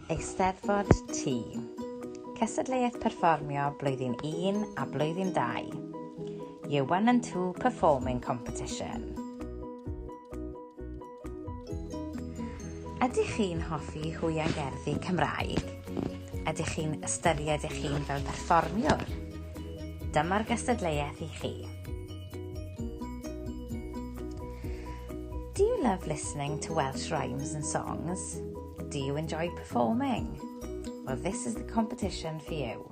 Eisteddfod Tŷ. Cystadleuaeth perfformio blwyddyn 1 a blwyddyn 2. Year 1 and 2 performing competition. Ydych chi'n hoffi hwy a gerddi Cymraeg? Ydych chi'n ystyried eich hun fel perfformiwr? Dyma'r gystadleuaeth i chi. Do you love listening to Welsh rhymes and songs? Do you enjoy performing? Well, this is the competition for you.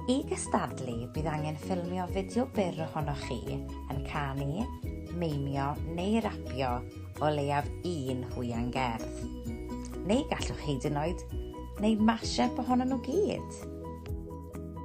I gystadlu, bydd angen ffilmio fideo byr ohonoch chi yn canu, meimio neu rapio o leiaf un hwy gerdd. Neu gallwch hyd yn oed wneud mashup ohono nhw gyd.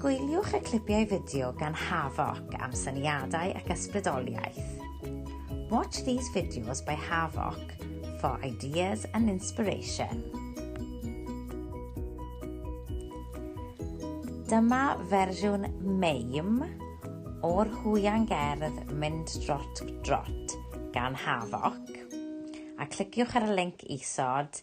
Gwyliwch y clipiau fideo gan Havok am syniadau ac ysbrydoliaeth. Watch these videos by Havok for ideas and inspiration. Dyma fersiwn meim o'r hwyangerdd Mynd Drot Drot gan Havok a cliciwch ar y linc isod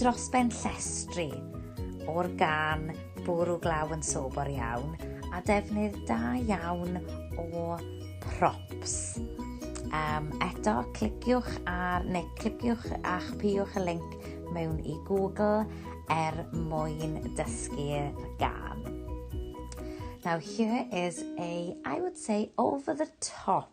Drosben llestri o'r gan bwrw glaw yn sobor iawn a defnydd da iawn o props. Um, eto, cliciwch ar, neu cliciwch a chpiwch y link mewn i Google er mwyn dysgu'r gan. Now here is a, I would say, over the top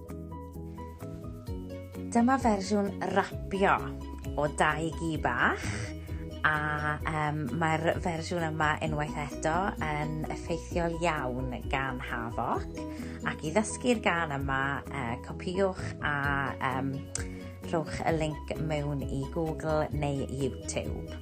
Dyma fersiwn rapio o dau gi bach a um, mae'r fersiwn yma unwaith eto yn effeithiol iawn gan Havoc ac i ddysgu'r gan yma uh, copiwch a um, rhowch y link mewn i Google neu YouTube.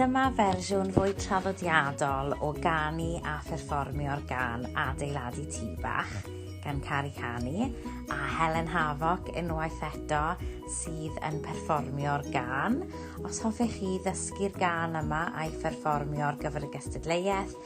Dyma fersiwn fwy traddodiadol o ganu a pherfformio'r gan Adeiladu Tŷ Bach gan Cari Canu a Helen Havoc unwaith eto sydd yn perfformio'r gan. Os hoffech chi ddysgu'r gan yma a'i pherfformio ar gyfer y gystadleuaeth,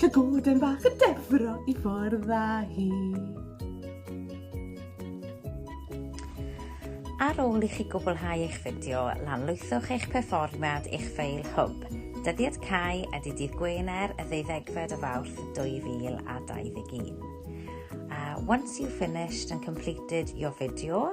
Llygoden bach yn deffro i ffwrdd â hi. Ar ôl i chi gwblhau eich fideo, lanlwythwch eich perfformiad i'ch ffeil hwb. Dyddiad cau ydy dydd Gwener y ddeuddegfed o Fawrth 2021. Uh, once you've finished and completed your video,